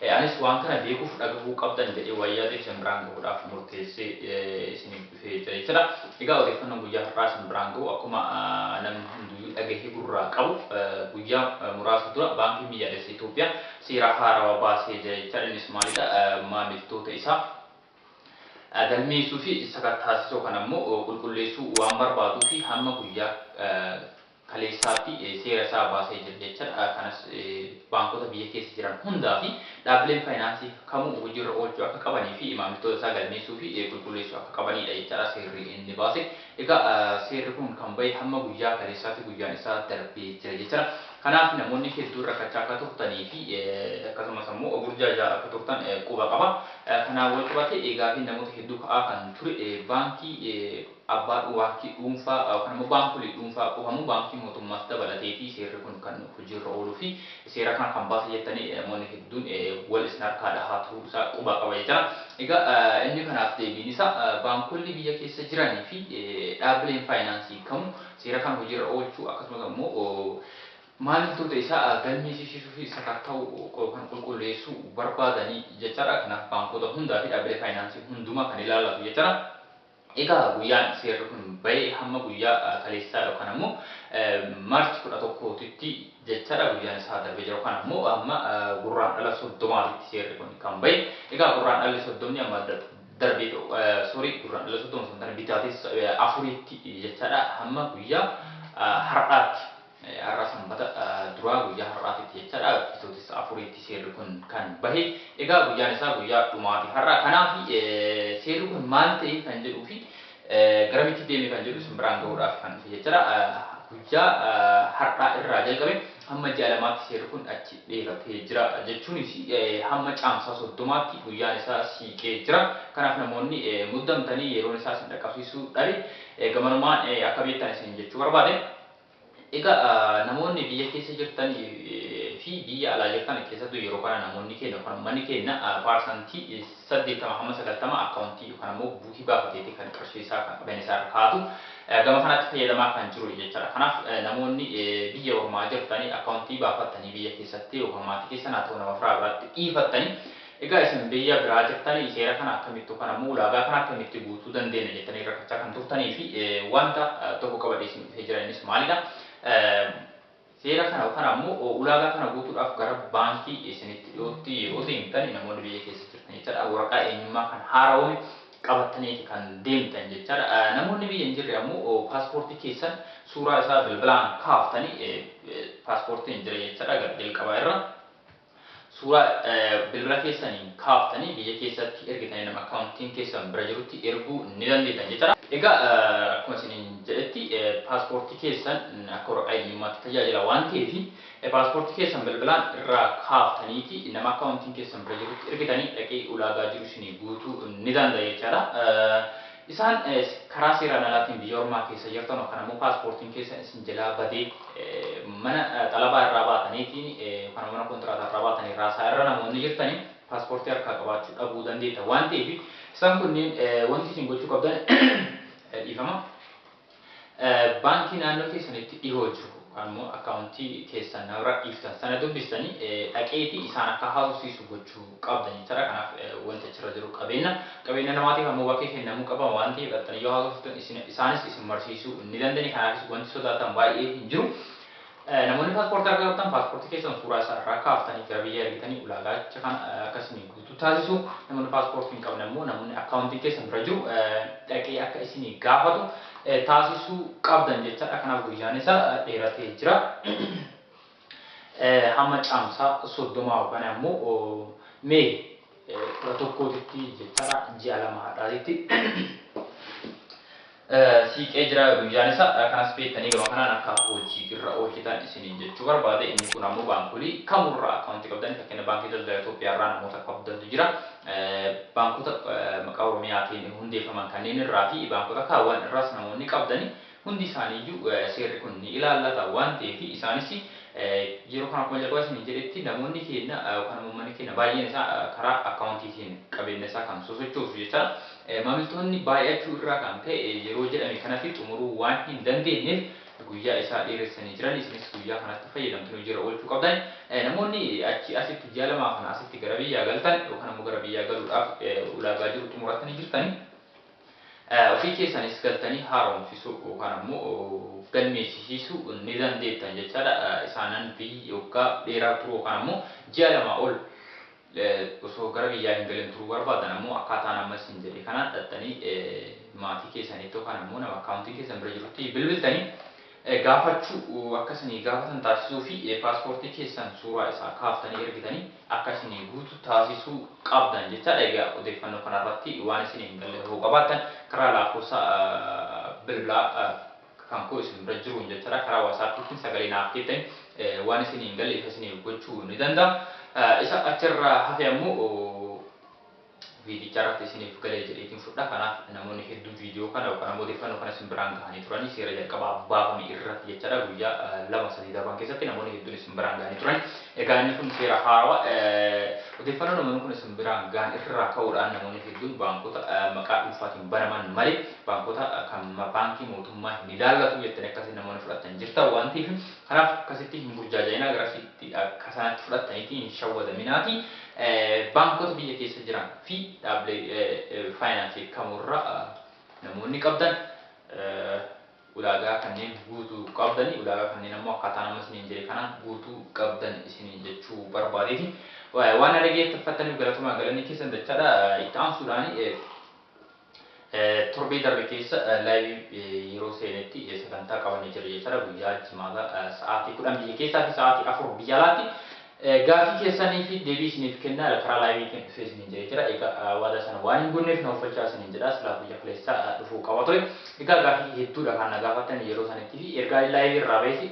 E. Anis waan kana beekuuf dhagahuu qabdan jedhee waan yaadeef isin biraan gahuudhaaf murteessee isiniif dhufee jira jechuudha. Egaa odeeffannoon guyyaa har'aa isin biraan gahu akkuma namni hunduyyuu dhagahee gurraa qabu guyyaa muraasa dura Baankiin Biyyaalessa Itoophiyaa seera haarawa baasee jira jechaadha. Innis maalidha? Maamiltoota isaa galmeessuu fi sakattaasisoo kan ammoo qulqulleessuu waan barbaaduufi hamma guyyaa kaleessaatti seera isaa baasee jira jechaadha. Kanas baankota biyya keessa jiran hundaa fi dhaabbileen faayinaansii kamuu hojiirra oolchuu akka qabanii fi maamiltoota isaa galmeessuu fi qulqulleessuu akka qabaniidha jechaadha seerri inni baase. Egaa seerri kun kan bahe hamma guyyaa kaleessaatti guyyaan isaa darbee jira jechaadha. Kanaaf namoonni hedduun rakkachaa akka turtanii fi akkasumas ammoo burjaajaa akka turtan quba qaba. Kanaan walqabatee gaafiin namoota hedduu ka'aa kan ture baankii abbaa dhuuaakii dhuunfaa yookaan ammoo baankolii dhuunfaa quhamu baankii mootummaas dabalateetii seerri kun kan hojiirra ooluu fi seera kana kan baasa jettanii namoonni hedduun wal isin harkaa dhahaa turuu isaa quba qaba jechaadha. Egaa inni kanaaf deebiin isaa baankolli biyya keessa jiranii fi dhaabbileen faayinaansii kamuu seera kana hojiirra oolchuu akkasumas ammoo maamiltoota isaa galmeesisiisuu fi sakatta'uu yookaan qulqulleessuu barbaadanii jechaadha. Kanaaf baankoota hundaa fi dhaabbilee faayinaansii hundumaa kan ilaallatu jechaadha. Egaa guyyaan seerri kun ba'e hamma guyyaa kaleessaa yookaan ammoo March 11 titti jechaadha. Guyyaan isaa darbee jira yookaan ammoo hamma Gurraandhala 30 titti seerri kun kan ba'e. Egaa Gurraandhalli 30 amma darbee sorry Gurraandhala 30 osoo hin taane Bitaatessa 4tti jechaadha hamma guyyaa har'aatti. Har'a Sanbata duraa guyyaa har'aatitti jechaadha Bitootessa afuriitti seerri kun kan bahe. Egaa guyyaan isaa guyyaa dhumaati har'a. Kanaaf seerri kun maal ta'e kan jedhuu fi garamitti deeme kan jedhu isin biraan gahuudhaaf kan dhufe jechaadha. Guyyaa har'aa irraa jalqabe hamma ji'a lamaatti seerri kun achi dheeratee jira. Jechuunis hamma caamsaa soddomaatti guyyaan isaa siiqee jira. Kanaaf namoonni muddamtanii yeroon isaa isin dhaqqabsiisuu dhabe gamanumaan akka beektan isin jechuu barbaade. Egaa namoonni biyya keessa jirtan fi biyya alaa jirtan keessattuu yeroo kana namoonni keenya yookaan ummanni keenya paarsantii 80 hamma 90 akkaawuntii yookaan ammoo buukii baafateeti kan qarshii isaa kan qabeenya isaa irra kaa'atu gama kanatti fayyadamaa kan jiru jechaadha. Kanaaf namoonni biyya ormaa jirtanii akkaawuntii baafattanii biyya keessatti yookaan maatii keessan haa ta'u nama firaa biratti dhiifattanii Egaa isin biyya biraa jirtanii seera kana akkamitti yookaan ammoo ulaagaa kana akkamitti guutuu dandeenya jettanii rakkachaa kan turtanii fi wanta tokko qabadhee isin dhufee jira innis maalidha? Seera kana yookaan ammoo ulaagaa kana guutuudhaaf gara baankii isinitti dhiyootti yeroo deemtan namoonni biyya keessa jirtan jechaadha waraqaa eenyummaa kan haarawoome qabattaniiti kan deemtan jechaadha. Namoonni biyya hin jirre ammoo paaspoortii keessan suuraa isaa bilbilaan kaaftanii paaspoortiin jira jechaadha gara jalqabaa irra. Suuraa bilbila keessaniin kaaftanii biyya keessatti ergitanii nama akkaawuntiin keessan bira jirutti erguu ni dandeettan jechaadha. Egaa akkuma isiniin jedhetti paaspoortii keessan akka waraqaa eenyummaatti tajaajila waan ta'eef paaspoortii keessan bilbilaan irraa kaaftaniiti nama akkaawuntiin keessan bira jirutti ergitanii dhaqee ulaagaa jiru isinii guutuu ni danda'a jechaadha. Isaan karaa seeraan alaatiin biyya ormaa keessa jirtan yookaan ammoo paaspoortiin keessan isin jalaa badee mana xalabaa irraa baataniitiin yookaan ammoo mana kontiraataa irraa baatanii raasaa irra namoonni jirtan paaspoortii harkaa qabaachuu dhabuu dandeettan waan ta'eef isaan kunniin wanti isin gochuu qabdan dhiifama. Baankii naannoo keessanitti dhihoo jiru yookaan immoo akkaawuntii keessan namarra dhiiftan sana dubbistanii dhaqeetii isaan akka haasofsiisu gochuu qabdan jechaadha. Kanaaf wanti achirra jiru qabeenna. Qabeenna namaatiif ammoo bakkee kennamuu qaba waan ta'eef dhaqxanii yoo haasofsiiftan isaanis isin marsiisuu ni danda'ani. Kanaafis wanti sodaatan baay'ee hin jiru. Namoonni paaspoortii harka qabtan paaspoortii keessan suuraa isaa irraa kaaftanii gara biyyaa ergitanii ulaagaacha kana akka isinii guutuu taasisu. Namoonni paaspoortii hin qabne immoo namoonni akkaawuntiin keessan bira jiru dhaqee akka isinii gaafatu taasisuu qabdan jechaadha. Kanaaf guyyaan isaa dheeratee jira. Hamma caamsaa soddoma yookaan ammoo mee kudha tokkootitti jechaadha ji'a lama hadhaatitti. siiqee jira guyyaan isa kanas beektanii gama kanaan akka hojii irra oolchitan isiniin jechuu barbaade inni kun ammoo baankolii kamurraa akka wanti qabdan fakkeenya baankii daldala Itoophiyaa irraa namoota qabdantu jira baankota maqaa Oromiyaatiin hundeeffaman kanneen irraa fi baankota kaawwan irraas namoonni qabdan hundi isaanii iyyuu seerri kun ni ilaallata waan ta'eef isaanis yeroo kana akkuma jalqaba isiniin jedhetti namoonni keenya yookaan uummanni keenya baay'een isaa karaa akkaawuntiitiin qabeenya isaa kan sosochoosu jechaadha. Maamiltoonni baay'achuu irraa kan ka'e yeroo jedhame kanatti xumuruu waan hin dandeenyeef guyyaa isaa dheeressanii jiran. Isinis guyyaa kanatti fayyadamtanii hojiirra oolchuu qabdan. Namoonni achii asitti ji'a lamaa kana asitti gara biyyaa galtan yookaan ammoo gara biyyaa galuudhaaf ulaagaa jiru xumurattanii jirtanii ofii keessanis galtanii haaromsisuu yookaan ammoo of galmeessisiisuu ni dandeettan jechaadha. Isaanan biyyi waggaa dheeraa turuu yookaan ammoo ji'a lamaa ol osoo gara biyyaa hin galin turuu barbaadan ammoo akkaataan amma isin jedhe kanaan dhaxxanii maatii keessaniitti yookaan ammoo nama akkaawuntiin keessan bira jirutti bilbiltanii gaafachuu akka isinii gaafatan taasisuu fi paaspoortii keessan suuraa isaa kaaftanii ergitanii akka isinii guutu taasisuu qabdan jechaadha. Egaa odeeffannoo kanarratti waan isinii hin galle hoo qabaattan karaa laakkoofsa bilbilaa kan koo isin bira jiruun jechaadha karaa wasaappiitiin sagalee naaf keettani waan isinii hin galle ifa isiniif gochuu ni danda'a. Isa achirra hafe ammoo viidicha irratti isiniif galee jedheetiin fudha. Kanaaf namoonni hedduu viidiyoo kana yookaan ammoo odeeffannoo kana isin biraan gahanii turanii seera jalqabaa baafame irratti jechaadha guyyaa lama sadii darban keessatti namoonni hedduun isin biraan gahanii turanii. Egaa inni kun seera haarawa. Odeeffannoo namoonni kun isin biraan gahan irraa ka'uudhaan namoonni hedduun baankota maqaa dhuunfaatiin banaman malee baankota kan baankii mootummaa hin ilaallatu jettanii akkasiin namoonni fudhattan jirtan waan ta'eef kanaaf akkasitti hin burjaaja'inaa garasitti akka sanatti fudhattaniitii hin shawwadaminaatii baankota biyya keessa jiran fi dhaabbilee faayinaansii kamurra namoonni qabdan ulaagaa kanneen guutuu qabdani, ulaagaa kanneen ammoo akkaataan amma isiniin jedhe kanaan guutuu qabdan isiniin jechuu barbaadeeti. Waan na dhageeffattaniif galatomaa galanni keessan dachaadha. Itti aansuudhaan torbee darbe keessa laayivii yeroo seenetti sagantaa qabannee jirra jechaadha. Guyyaa jimaataa sa'aatii kudhan biyya keessaa fi sa'aatii afur biyya alaatti Gaaffii keessanii fi deebii isiniif kennaara karaa live tiin dhufee isiniin jedhee jira egaa waadaa sana waan hin guunneef na uffachaa isiniin jedha silaa guyyaa kaleessa dhufuu qaba ture egaa gaaffii hedduudha kan na gaafattan yeroo sanitti fi ergaa live irraa bahees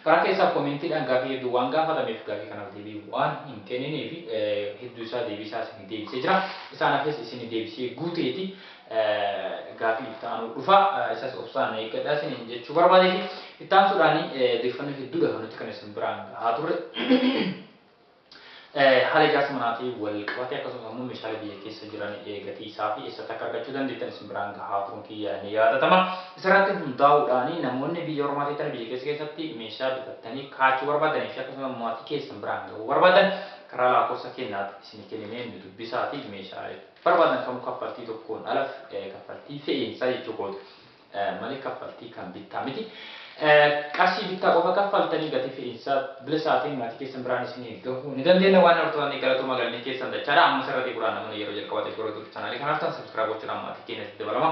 karaa keessaa koomentiidhaan gaaffii hedduu waan gaafatameef gaaffii kanaaf deebii waan hin kennineef hedduu isaa deebii isaa isinii deebisee jira isaan hafes isinii deebisee guuteeti Gaafii itti aanu dhufa isas obsaan eeggadha isiniin jechuu barbaadeeti. Itti aansuudhaan odeeffannoo hedduudha kan nuti kan isin biraan gahaa turre. Haala ijaarsa manaatiin wal qabatee akkasumas ammoo meeshaalee biyya keessa jiran gatii isaa fi eessatti akka argachuu dandeettan isin biraan gahaa turuun kiyya ni yaadatama. Isarratti hundaa'uudhaan namoonni biyya ormaa teettanii biyya keessa keessatti meeshaa bitattanii kaachuu barbaadanii fi akkasumas maatii keessan biraan gahuu barbaadan karaa laakofsa kennaatti isinii kenninee nu dubbisaatii meeshaalee barbaadan kamuu kaffaltii tokkoon ala kaffaltii fe'iinsaa jechuu kooti malee kaffaltii kan bittaa miti. Qarshii bittaa qofa kaffaltanii gatii fe'iinsaa bilisaa ta'een maatii keessan biraan isiniin gahuu ni dandeenya. Waan hortotanii galatooma galanni keessan dachaadha. Ammas irra deebi'uudhaan namoonni yeroo jalqabaatiif gara YouTube chaanaalii kanaa dhuftan subscribe gochuudhaan maatii keenyatti dabalama.